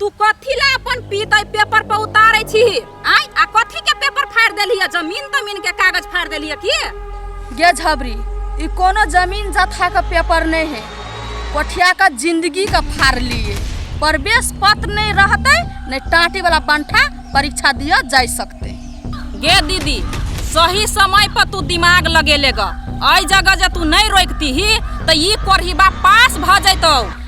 तू कथी ला अपन पीत एहि पेपर पर उतारे छी आय आ कथी के पेपर फाड़ देली है जमीन तमीन के कागज फाड़ देली है की गे झबरी ई कोनो जमीन जथा के पेपर नहीं है कोठिया का जिंदगी का फाड़ लिए प्रवेश पत्र नहीं रहते नहीं टाटी वाला बंठा परीक्षा दिया जा सकते गे दीदी सही समय पर तू दिमाग लगेले ग एहि जगह जे तू नहीं रोकती ही तो ई कोढ़ीबा पास भ जैतौ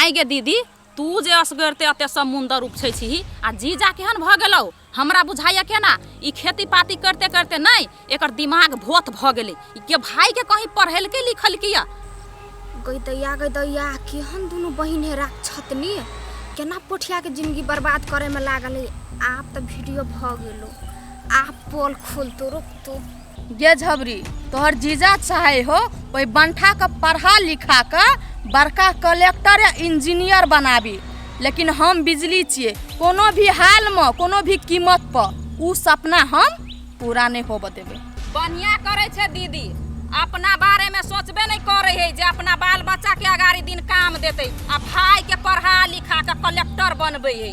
आइ गे दीदी तू जे असगरते एते समुंदर उपछै छीही आ जीजा केहन भऽ गेलौ हमरा बुझाइए केना ई खेती पाती करते करते नहि एकर दिमाग भोत भऽ गेलै ई के भाई के कहीं पढ़ेलकै लिखलकै या गई दैया गई दैया केहन दुनू बहिन हे राक्षतनी केना पोठिया के जिंदगी बर्बाद करे में लागल है आप तो वीडियो भऽ गेलो आप पोल खोलतो रुक तो गे झबरी तोहर जीजा चाहे हो ओहि बंठा के पढ़ा लिखा के बड़का कलेक्टर या इंजीनियर बनाबी लेकिन हम बिजली छिए कोनो भी हाल में कोनो भी कीमत पर उ सपना हम पूरा नहीं होबे देबे बढ़िया करे छे दीदी अपना बारे में सोचबे नहीं करे है जे अपना बाल बच्चा के अगाड़ी दिन काम देते आ भाई के पढ़ा लिखा के कलेक्टर बनबे है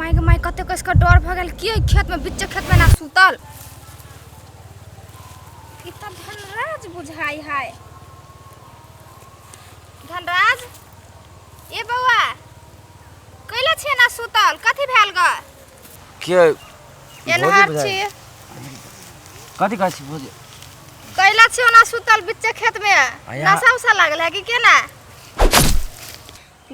माय माय कते कस का डर भगल की खेत में बिच्चे खेत में ना सुतल इतना धनराज बुझाई है धनराज ए बउआ कैला छे ना सुतल कथी भेल गा के भोजी एनहर बुझाइ छी कथी कहै छी भोजी कैला छी ओना सुतल बिच्चे खेत में आया। नशा उसा लागल है कि केना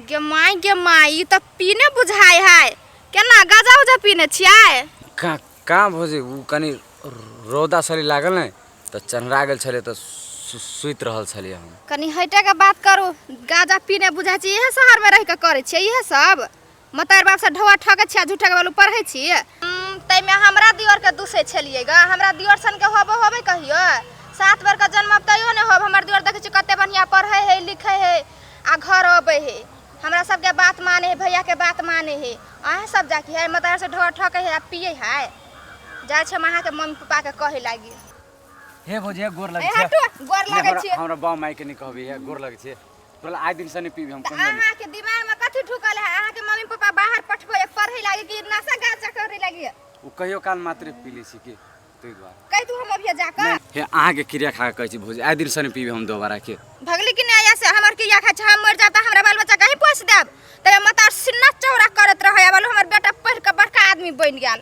गे माई गे माई ई त पीने बुझाय है केना गाजा उजा पीने छियै कहाँ कहाँ भोजी उ कनि रौदा सरी लागल ने तऽ चन्हरा गेल छलियै तऽ सु- सुति रहल छलियै हम कनी हटे के बात करू गाजा पीने बुझाय छी इहे शहर में रह के करे छियै इहे सब मतार बाप से ढोआ ठगे छिया झूठे के बालू पढ़े छिए तै में हमरा दियोर के दूसे छलिए गा हमरा दियोर सन के होबो होबे कहियो सात बेर का जन्म अब तैयो ने होब हमर दियोर देखे छी कते बढ़िया पढ़े है लिखे है आ घर अबे है हमरा सबके बात माने है भैया के बात माने है अहाँ सब जाके है मतार से ढोआ ठगे है आ पिए है जाय छै महा के मम्मी पापा के कहे लागी हे भौजी हे गोर ए लगै छै हटो गोर लागै हमरा छिए हमरा बाप माय के नहि कहबै हे गोर लगै छै बोला आइ दिन से नहीं पीबी हम कहियो नहीं अहाँ के दिमाग में कथी ढुकल है अहाँ के मम्मी पापा बाहर पठबे पढ़े लागे कि नशा गांजा करे लागे उ कहियो काल मात्र पी लै छी के तै द्वारा कह तू हम अभी जाकर हे अहाँ के क्रिया खा के कहै छी भौजी आइ दिन से नहीं पीबी हम दोबारा के भगली कि नहीं से हमर के या खाचा हम मर जाब त हमरा बाल बच्चा कहीं पोस देब तबे मतार सिन्ना चौरा करत रहे अब हमर बेटा पढ़ के बड़का आदमी बन गेल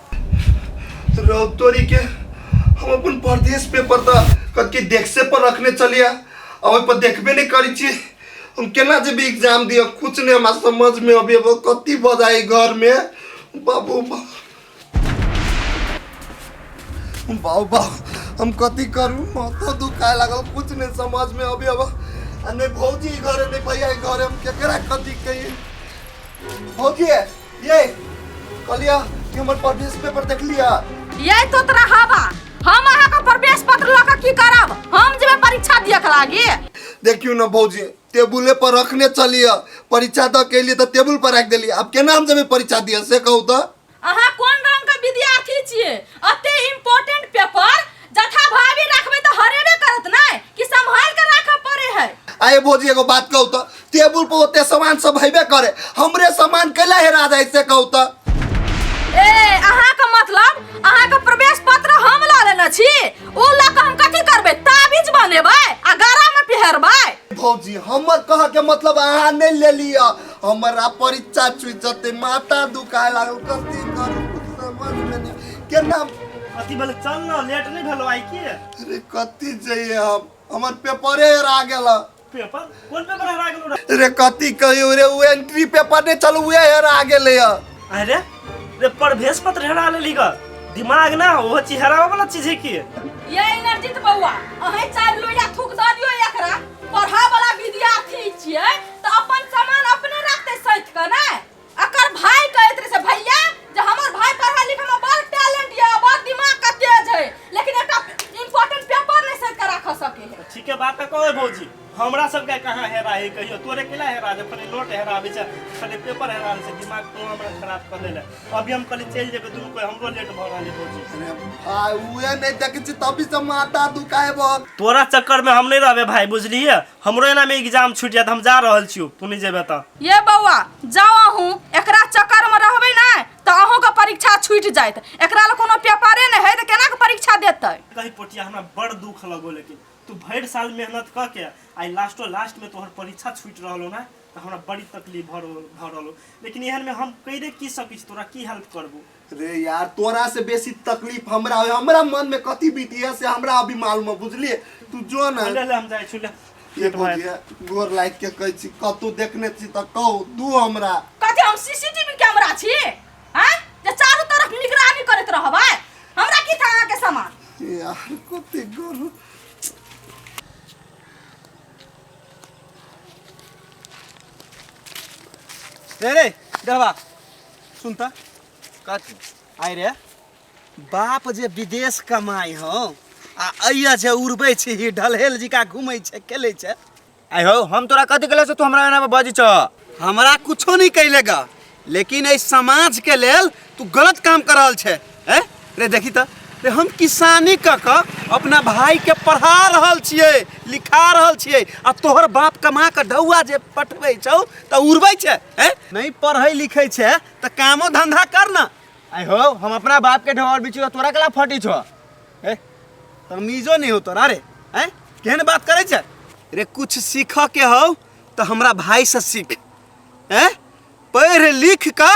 रौतोरी के हम अपन परदेश पेपर त कति डेस्के पर रखने चलिया आ ओहि पर देखबे नहीं करी छी हम केना जेबे एग्जाम दिया कुछ नहीं हमरा समझ में अभी अब कति बजाई घर में बाबू बा बाबू बा हम कति करू माथा दुखाए लागल कुछ नहीं समझ में अभी अब आ नहीं भौजी घरे नहीं भैया घरे हम केकरा कति कही भौजी ये कलिया कि हमर प्रवेश पेपर देख लिया ये तो तोरा हवा हम अहाँ के प्रवेश पत्र लऽ के की करब हम जेबे परीक्षा दिए के लागी देखियो ना भौजी टेबुले पर रखने चलिया परीक्षा द के लिए तो टेबुल पर रख देलिए अब केना हम जब परीक्षा दिया से कहू तो अहाँ कोन रंग के विद्यार्थी छिए अते इम्पोर्टेंट पेपर जथा भाभी रखबे तो हरेबे करत नहीं कि संभाल के रखे पड़े है आए भौजी एगो बात कहू तो टेबुल पर ओते सामान सब हेबे करे हमरे सामान कैला हेरा जाए से कहू तो ए अहाँ के मतलब अहाँ के प्रवेश पत्र हम ला लेने छी ओ ला के हम कथी करबे ताबीज बनेबै आ गरा में पिहरबै भौजी हमर कह के मतलब अहाँ नहीं ले लिया हमरा परीक्षा छुई जते माता दुखाए लागल कथी करू कुछ समझ में नहीं केना अथी बोले चल ना लेट नहीं भेलो आई के अरे कथी चाहिए हम हमर पेपरे हेरा गेल पेपर कोन पेपर हरा गेलो रे रे कथी कहियो रे उ एंट्री पेपर ने चल उहे हेरा गेले ह अरे रे प्रवेश पत्र हरा लेली ग दिमाग ना हो चीज हरावे वाला चीज है की ये इनर्जित बौआ अहें चार लोया थूक दऽ दियो एकरा पढ़ा वाला विद्यार्थी छियै तऽ अपन सामान अपने रखते सैत के ने अकर भाई कहैत रहे से भैया जे हमर भाई पढ़ा लिखा में बड़ टैलेंट ये बड़ दिमाग का तेज है लेकिन एकटा इम्पोर्टेंट पेपर नहीं सैत के रख सके है तऽ ठीके बात तऽ कहै भौजी हमरा सबके कहाँ हेरा है कहियो तोरे केला हेरा जे फले नोट हेरा आबै छै फले पेपर हेरा आबै छै दिमाग तो हमरा खराब कऽ देले अभी हम कहलियै चलि जेबै दुनू कोइ हमरो लेट भऽ रहल है भौजी अरे भाय उहे नहीं देखे छी तभी से माथा दुखाए बहुत तोरा चक्कर में हम नहीं रहबे भाई बुझलिए हमरो एना में एग्जाम छूट जात हम जा रहल छियो तू नहीं जेबे त ये बौआ जाओ अहूँ एकरा चक्कर में रहबे ना तो अहूँ के परीक्षा छूट जायत एकरा ले कोनो पेपरे नहीं है तो केना के परीक्षा देते कही पोटिया हमरा बड़ दुख लगो लेकिन तू भर साल मेहनत क के आई लास्टो लास्ट में तोहर परीक्षा छूट रहलो ना त हमरा बड़ी तकलीफ भर भर रहलो लेकिन एहन में हम कइरे की सकी छी तोरा की हेल्प करबो रे यार तोरा से बेसी तकलीफ हमरा होय हमरा मन में कथी बीती है से हमरा अभी मालूम है बुझलिए तू जो ना ले ले हम जाइ छु ले ये पेट भर। बुझिया गोर लाइट के कहै छी कतू देखने छी त कहू दू हमरा कथी हम सीसीटीवी कैमरा छी हैं जे चारू तरफ निगरानी करैत रहबै हमरा की था अहाँके सामान यार कते गोर रे रे दरबा सुन त कथी आइ रे बाप जे विदेश कमाई हो आ अइया जे उड़बै छी ही ढलहेल जिका घूमै छै खेलै छै आइ हो हम तोरा कथी कहले से तू हमरा एना बजै छ हमरा कुछो नहीं कैले गा लेकिन एहि समाज के लेल तू गलत काम कर रहल छै ए रे देखी त रे हम किसानी क क अपना भाई के पढ़ा रहल छिए लिखा रहल छिए आ तोहर बाप कमा के ढौआ जे पठबै छौ त उड़बै छै ए नहीं पढ़ै लिखै छै त कामो धंधा कर न आई हो हम अपना बाप के ढोर बिचू तोरा कला फटी छो ए तमीजो नहीं हो तोरा रे ए केहन बात करै छै रे कुछ सीखऽ के हौ त हमरा भाई से सीख ए पढ़ लिख कऽ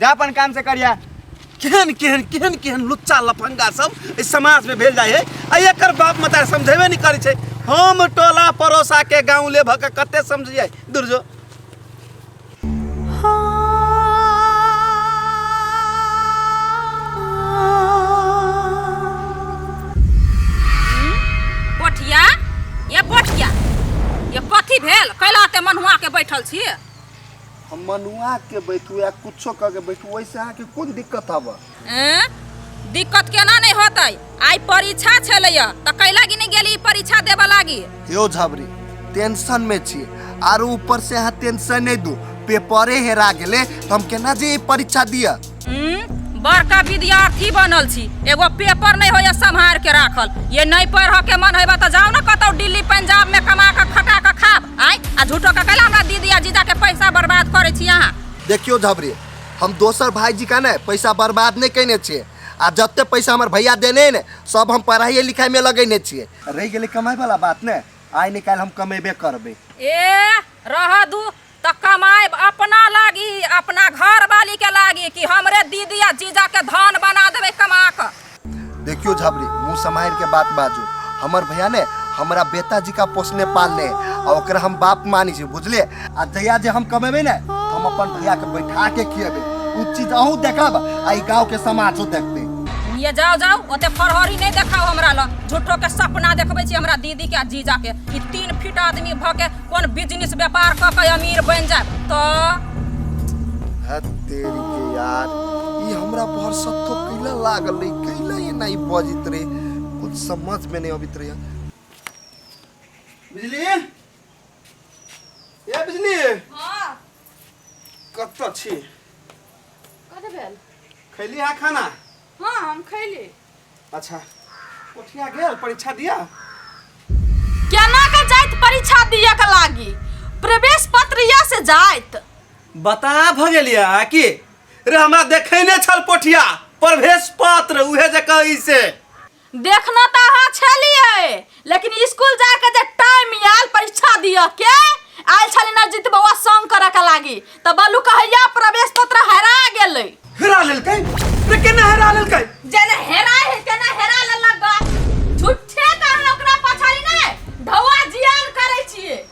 जा अपन काम से करिया केहन केहन केहन केहन लुच्चा लफंगा सब एहि समाज में भेल जाए है आ एकर बाप मतार समझेबे नहीं करे छै हम टोला पड़ोसा के गाँव ले भके कते समझिए दूर जो पोठिया ये पोठिया ये कथी भेल कैला ते मनुआ के बैठल छी हम मनुआ के बैठू या कुछो कह के बैठू वैसे अहाँ के कोन दिक्कत हवा एं? दिक्कत केना नहीं होते आई परीक्षा छले तो कैला गिनी गेली परीक्षा देवा लागी यो झबरी टेंशन में छी आरो ऊपर से अहाँ टेंशन नहीं दू पेपरे हेरा गेले तो हम केना जे ई परीक्षा दिया बड़का विद्यार्थी बनल छी एगो पेपर नहीं होइए सम्हार के राखल ये नहीं पढ़ के मन है तो जाओ ना कत दिल्ली पंजाब में कमा के खटा के खाब आय आ झूठो के कैला हमरा दीदी आ जीजा के पैसा बर्बाद करे छी अहाँ देखियो झबरी हम दोसर भाईजी का ने पैसा बर्बाद नहीं कैने छे आ जते पैसा हमारे भैया देने ने सब हम पढ़ाई लिखाई में लगेने छे रह गए कमाई वाला बात ने आय निकाल हम कमेबे करबे ए रह दू तऽ कमाएब अपना लागी अपना घरवाली के लागी कि हमरे दीदी आ जीजा के धन बना देबे कमा के देखियो झाबरी मुंह समार के बात बाजू हमर भैया ने हमरा बेटा जी का पोसने पालने आ ओकरा हम बाप मानी छी बुझले आ जहिया जे हम कमेबे ने तो हम अपन भैया के बैठा के खिएबे उ चीज अहू देखब आ ई गांव के समाजो देखते ये जाओ जाओ ओते फरहरी नहीं देखाओ हमरा ल झूठो के सपना देखबे छी हमरा दीदी के आ जीजा के ई तीन फीट आदमी भ के कोन बिजनेस व्यापार कऽ के अमीर बन जाए तो है तेरी के यार ये हमरा पर सत्तो कैला लागल रही कैला ये नहीं बजित रहे कुछ समझ में नहीं अबित रहे बिजली ये बिजली हां कत छी कत भेल खैली है खाना हां हम खैली अच्छा कोठिया गेल परीक्षा दिया केना के जाइत परीक्षा दिए के लागी प्रवेश पत्र या से जाइत बता भ गेलिया कि रे हमरा देखैने छल पोठिया प्रवेश पत्र उहे जे कहै से देखना तऽ अहाँ छलियै लेकिन स्कूल जाए के जे टाइम आयल परीक्षा दिय के आयल छले ना जीत बौआ संग करे के लागी त बलू कहैया प्रवेश पत्र हरा गेलै हेरा लेलकै रे केना हेरा लेलकै जेना हेरा है तेना हेरा लेलक गा झूठे कहन ओकरा पछाड़ी ने ढौआ जियान करे छिए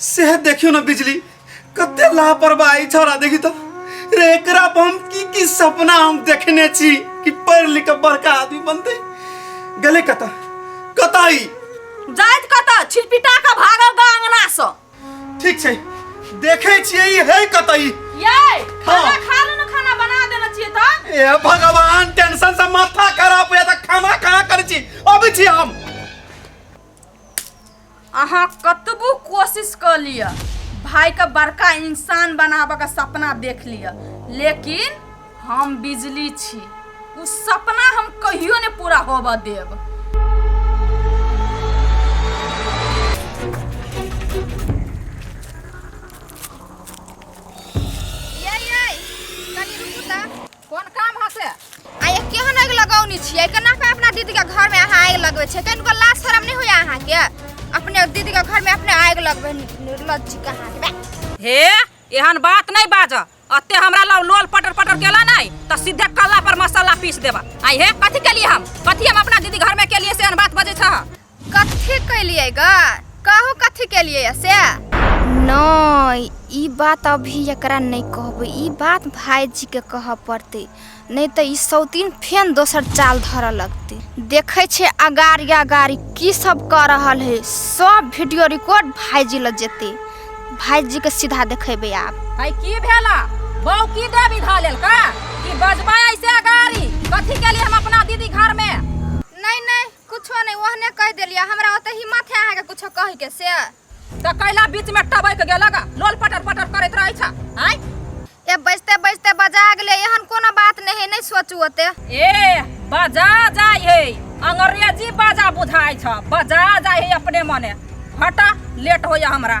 सेह देखियो ना बिजली कते लापरवाही छोरा देखी तो रे एकरा पर हम की की सपना हम देखने छी कि पढ़ लिख के बड़का आदमी बनते गले कता कताई जाइत कत छिलपिटा के भागल गा अंगना से ठीक छै देखे छियै ई है कताई ये खाना हाँ। खा लो ना खाना बना देना चाहिए था ए भगवान टेंशन से माथा खराब हो जाता खाना कहाँ कर छी अभी छी हम अहाँ कतबो कोशिश कऽ लिअ भाइके बड़का इंसान बनाबऽके सपना देख लिअ लेकिन हम बिजली छी ओ सपना हम कहियो नहि पूरा होबऽ देब कोन काम है से आ ये केहन आगि लगौनी छियै केना के अपना दीदी के घर में अहाँ आगि लगबै छै कनि को लाज शरम नहि होइया अहाँ के अपने दीदी के घर में अपने आगि लगबै निर्लज छी कहाँ के बे। हे एहन बात नहीं बाज अते हमरा लग लोल पटर पटर केला नहीं तो सीधे कल्ला पर मसाला पीस देबा आई हे कथी के लिए हम कथी हम अपना दीदी घर में के लिए से एहन बात बजे छ कथी कैलिए ग कहू कथी केलिए से नहीं ई बात अभी एकरा नहीं कहबे ई बात भाईजी के कह पड़ते नहीं तो ई सौतीन फेन दोसर चाल धर लगते देखे छे अगारी अगारी की सब कर रहल है सब वीडियो रिकॉर्ड भाईजी ल जेते भाईजी के सीधा देखेबे आप भाई की भेला बहू की देवी धा लेल का कि बजबा ऐसे अगारी कथी के लिए हम अपना दीदी घर में नहीं नहीं कुछो नहीं ओहने कह देलिया हमरा ओते हिम्मत है अहाँ के कुछो कह के से त कैला बीच में टबैक गेलक लोल पटर पटर करैत रहै छ आय ए बजते बजते बजा गेले एहन कोनो बात नहीं है नहीं सोचू ओते ए बजा जाय हे अंग्रेजी बजा बुझाय छ बजा जाय हे अपने मने हटा लेट होय हमरा